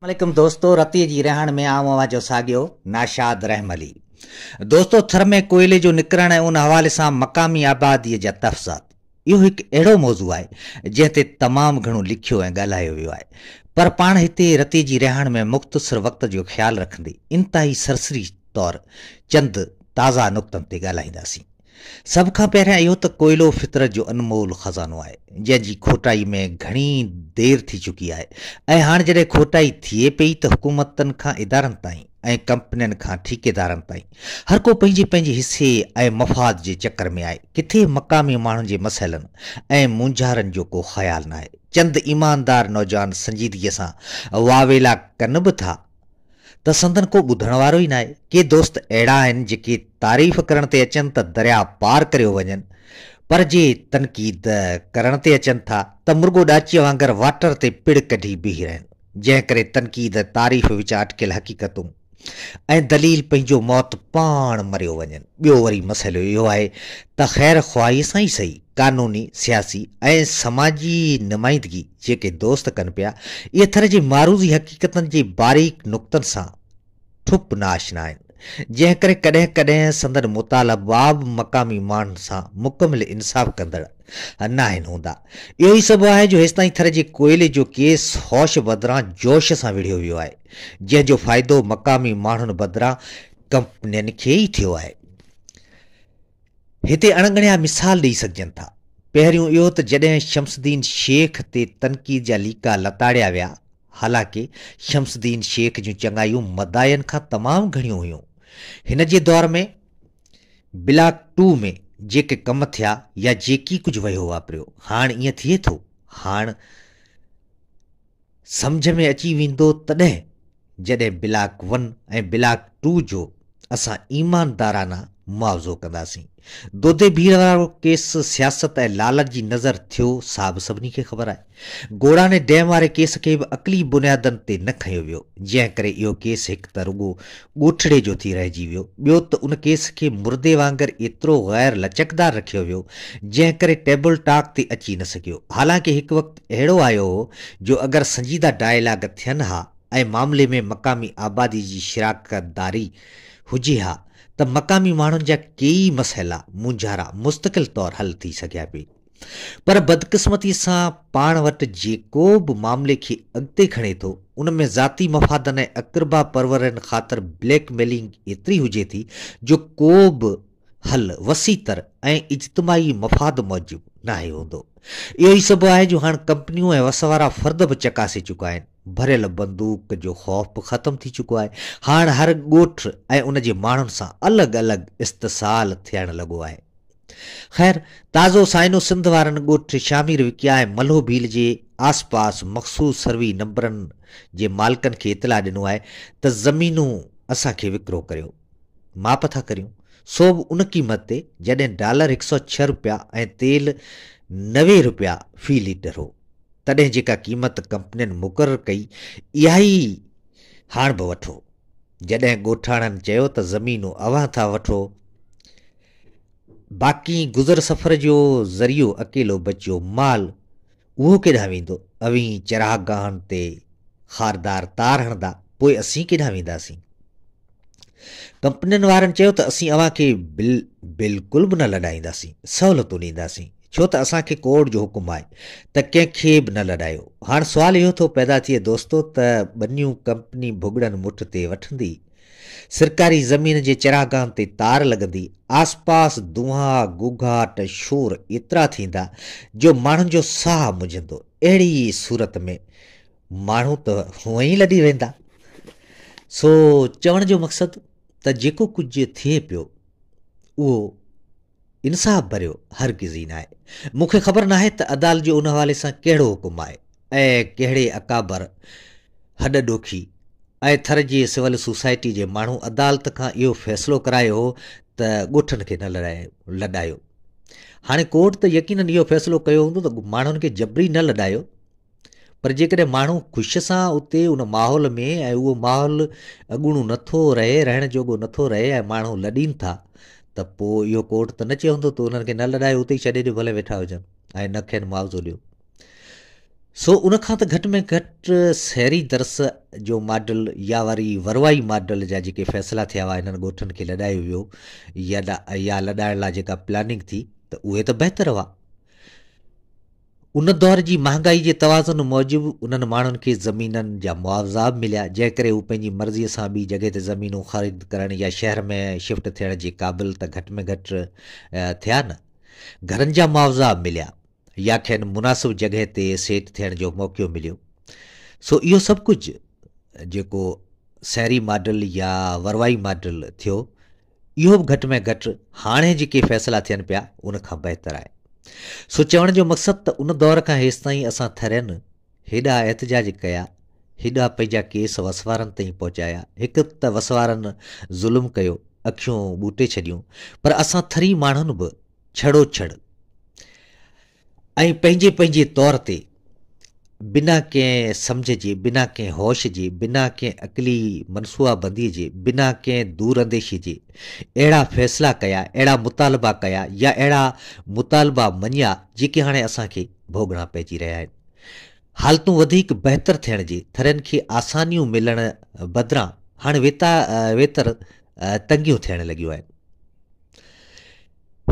عليڪم دوستو رتي جي رهاڻ ۾ آئون اوهان جو ساڳيو ناشاد رحملي دوستو ٿر ۾ ڪوئلي جو نڪرڻ ۽ ان حوالي سان مقامي آبادي جا تحفظات اهو هڪ اهڙو موضوع آهي جنهن تي تمام گهڻو لکيو ۽ ڳالهايو ويو آهي پر پاڻ هتي رتي جي رهاڻ ۾ مختصر وقت جو خيال رکندي انتهائي سرسري طور چند تازا نقطن تي ڳالهائينداسين. سڀ کان پهريان اهو ته ڪوئلو فطرت جو انمول خزانو آهي، جنهن جي کوٽائي ۾ گهڻي دير ٿي چڪي آهي ۽ هاڻ جڏهن کوٽائي ٿئي پئي ته حڪومتن کان ادارن تائين ۽ ڪمپنين کان ٺيڪيدارن تائين هر ڪو پنهنجي پنهنجي حصي ۽ مفاد جي چڪر ۾ آهي، ڪٿي مقامي ماڻهن جي مسئلن ۽ مونجهارن جو ڪو خيال ناهي. چند ايماندار نوجوان سنجيدگيء سان واويلا ڪن به ٿا، ته سندن ڪو ٻڌڻ وارو ئي ناهي. ڪي دوست اهڙا آهن جيڪي تعريف ڪرڻ تي اچن ته درياء پار ڪريو وڃن پر جي تنقيد ڪرڻ تي اچن ٿا ته مرڳو ڏاچيء وانگر واٽر تي پڙ ڪڍي بيهي رهن جنهن ڪري تنقيد تعريف وچ اٽڪيل حقيقتون ۽ دليل پنهنجو موت پاڻ مريو وڃن. ٻيو وري مسئلو اهو آهي ته خير خواهيء سان ئي سهي. قانوني، سياسي ۽ سماجي نمائندگي جيڪي دوست ڪن پيا، اهي ٿر جي معروضي حقيقتن جي باريڪ نقطن سان ٺپ ناآشنا آهن، جنهن ڪري ڪڏهن ڪڏهن سندن مطالباب مقامي ماڻهن سان مڪمل انصاف ڪندڙ ناهن هوندا. اهو ئي سبب آهي جو هيستائين ٿر جي ڪوئلي جو ڪيس هوش بدران جوش سان وڙهيو ويو آهي، جنهن جو فائدو مقامي ماڻهن بدران ڪمپنين کي ئي ٿيو آهي. هتي اڻڳڻيا مثال ڏئي سگهجن ٿا. پهريون اهو ته جڏهن شمس الدين شيخ تي تنقيد جا ليڪا لتاڙيا ويا، حالانڪه شمس الدين شيخ جون چڱايون مداحين کان تمام گهڻيون هيون. هن جي دور ۾ بلاڪ ٽو ۾ جيڪي ڪم ٿيا يا جيڪي ڪجهه وهيو واپريو، هاڻ ائين ٿئي ٿو؟ هاڻ سمجهه ۾ اچي ويندو تڏهن جڏهن بلاڪ ون ۽ بلاڪ ٽو جو اسان ايماندارانه معاوضو ڪنداسين. دودي ڀيڙ وارو ڪيس سياست ۽ لالچ جي نذر ٿيو سا به سڀني کي خبر آهي. گوڙاڻي ڊيم واري ڪيس کي به عقلي بنيادن تي نه کنيو ويو جنهن ڪري اهو ڪيس هڪ ته رڳو ڳوٺڙي جو ٿي رهجي ويو ٻيو ته ان ڪيس کي مردي وانگر ايترو غير لچڪدار رکيو ويو جنهن ڪري ٽيبل ٽاڪ تي اچي نه سگهيو حالانڪه هڪ وقت اهڙو آيو هو جو اگر سنجيده ڊائيلاگ ٿين ها ۽ معاملي ۾ مقامي آبادي جي شراڪتداري هجي ها ته مقامي ماڻهن جا ڪيئي مسئلا، مونجهارا مستقل طور حل ٿي سگهيا پي. پر بدقسمتي سان پاڻ وٽ جيڪو به معاملي کي اڳتي کڻي ٿو ان ۾ ذاتي مفادن ۽ اقربا پرورين خاطر بليڪ ميلنگ ايتري هجي ٿي جو ڪو به حل وسيع تر ۽ اجتماعي مفاد موجب ناهي هوندو. اهو ئي سبب آهي جو هاڻ ڪمپنيون ۽ وس وارا فرد به چڪاسي چڪا آهن. ڀريل بندوق جو خوف به ختم ٿي چڪو آهي. هاڻ هر ڳوٺ ۽ ان جي ماڻهن سان الڳ الڳ استحصال ٿيڻ لڳو آهي. خير، تازو سائنو سنڌ وارن ڳوٺ شامير وڪيا ۽ ملهو ڀيل جي آس پاس مخصوص سروي نمبرن جي مالڪن کي اطلاع ڏنو آهي ته زمينون اسان کي وڪرو ڪريو. ماپ ٿا ڪريون سو به ان قيمت تي جڏهن ڊالر هڪ سؤ ڇهه رپيا ۽ تيل نوي رپيا في ليٽر هو تڏهن جيڪا قيمت ڪمپنين مقرر ڪئي اها ئي هاڻ به وٺو جڏهن ڳوٺاڻن چيو ته زمينون اوهان ٿا وٺو باقي گذر سفر جو ذريعو اڪيلو بچيو مال اهو ڪيڏانهن ويندو؟ اوهين چراغ گاهن تي خاردار تار هڻندا، پوء اسين ڪيڏانهن وينداسين؟ ڪمپنين وارن چيو ته اسين اوهان کي بل بلڪل به نه لڏائينداسين، سهولتون ڏينداسين، ڇو ته اسان کي ڪورٽ جو حڪم آهي ته ڪنهن کي به نه لڏايو. هاڻ سوال اهو ٿو پيدا ٿئي دوستو ته ٻنيون ڪمپني ڀڳڙن مٺ تي وٺندي؟ سرڪاري زمين جي چراگاهن تي تار لڳندي آس پاس دونها، گوگهاٽ، شور ايترا ٿيندا جو ماڻهن جو ساهه مجهندو. اهڙي ئي صورت ۾ ماڻهو ته هونئن ئي لڏي ويندا. سو چوڻ جو مقصد ته جيڪو ڪجهه ٿئي پيو اهو انصاف ڀريو هرگز ئي ناهي. مون کي خبر ناهي ته عدالت جو ان حوالي سان ڪهڙو حڪم آهي ۽ ڪهڙي اڪابر، هڏ ڏوکي ۽ ٿر جي سول سوسائٽي جي ماڻهو عدالت کان اهو فيصلو ڪرايو هو ته ڳوٺن کي نه لڏايو. هاڻي ڪورٽ ته يقينن اهو فيصلو ڪيو هوندو ته ماڻهن کي جبري نه لڏايو. پر جيڪڏهن ماڻهو خوش سان اتي ان ماحول ۾ ۽ اهو ماحول اڳوڻو نٿو رهي رهڻ جوڳو نٿو رهي ۽ ماڻهو لڏين ٿا ته پوء اهو ڪورٽ ته نه چوندو ته انهن کي نه لڏايو اتي ئي ڇڏي ڏيو ڀلي ويٺا هجن ۽ نه کين معاوضو ڏيو سو ان کان ته گهٽ ۾ گهٽ سهري درس جو ماڊل يا وري وروائي ماڊل جا جيڪي فيصلا ٿيا هئا انهن ڳوٺن کي لڏايو ويو يا لڏائڻ لاء جيڪا پلاننگ ٿي ته اهي ته بهتر هئا ان دور جي مهانگائي جي توازن موجب انهن ماڻهن کي زمينن جا معاوضا به مليا، جنهن ڪري هو پنهنجي مرضيء سان ٻي جڳهه تي زمينون خريد ڪرڻ يا شهر ۾ شفٽ ٿيڻ جي قابل ته گهٽ ۾ گهٽ ٿيا نه گهرن جا معاوضا مليا يا کين مناسب جڳهه تي سيٽ ٿيڻ جو موقعو مليو. سو اهو سڀ ڪجهه جيڪو سهري ماڊل يا وروائي ماڊل ٿيو، اهو به گهٽ ۾ گهٽ هاڻي جيڪي فيصلا ٿين پيا ان کان بهتر آهي. سو چوڻ جو مقصد ته ان دور کان هيستائين اسان ٿرين هيڏا احتجاج ڪيا، هيڏا پنهنجا ڪيس وسوارن تائين پهچايا، هڪ ته وسوارن ظلم ڪيو، اکيون ٻوٽي ڇڏيون، پر اسان ٿري ماڻهن به ڇڙو ڇڙ ۽ پنهنجي پنهنجي طور تي بنا ڪنهن سمجهه جي، بنا ڪنهن هوش جي، بنا ڪنهن عقلي منصوعا بندي جي، بنا ڪنهن دور انديشي جي اهڙا فيصلا ڪيا، اهڙا مطالبا ڪيا يا اهڙا مطالبا مڃيا جيڪي هاڻي اسان کي ڀوڳڻا پئجي رهيا آهن. حالتون وڌيڪ بهتر ٿيڻ جي ٿرين کي آسانيون ملڻ بدران هاڻي ويتر تنگيون ٿيڻ لڳيون آهن.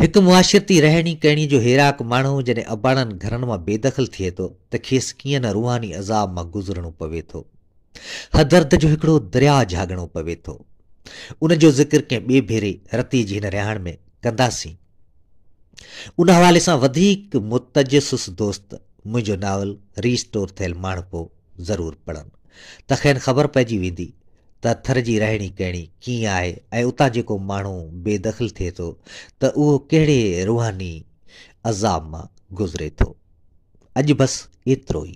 هڪ معاشرتي رهڻي ڪهڻي جو هيراڪ ماڻهو جڏهن اباڻن گهرن مان بي دخل ٿئي ٿو ته کيس ڪيئن نه روحاني عذاب مان گذرڻو پوي ٿو. هدرد جو هڪڙو درياء جهاڳڻو پوي ٿو. ان جو ذڪر ڪنهن ٻئي ڀيري رتيء جي هن رهاڻ ۾ ڪنداسين. ان حوالي سان وڌيڪ متجسس دوست منهنجو ناول ري اسٽور ٿيل ماڻهپو، ضرور پڙهن ته کين خبر پئجي ويندي ته ٿر جي رهڻي ڪهڻي ڪيئن آهي ۽ اتان جيڪو ماڻهو بي دخل ٿئي ٿو ته اهو ڪهڙي روحاني عذاب مان گذري ٿو. اڄ بس ايترو ئي.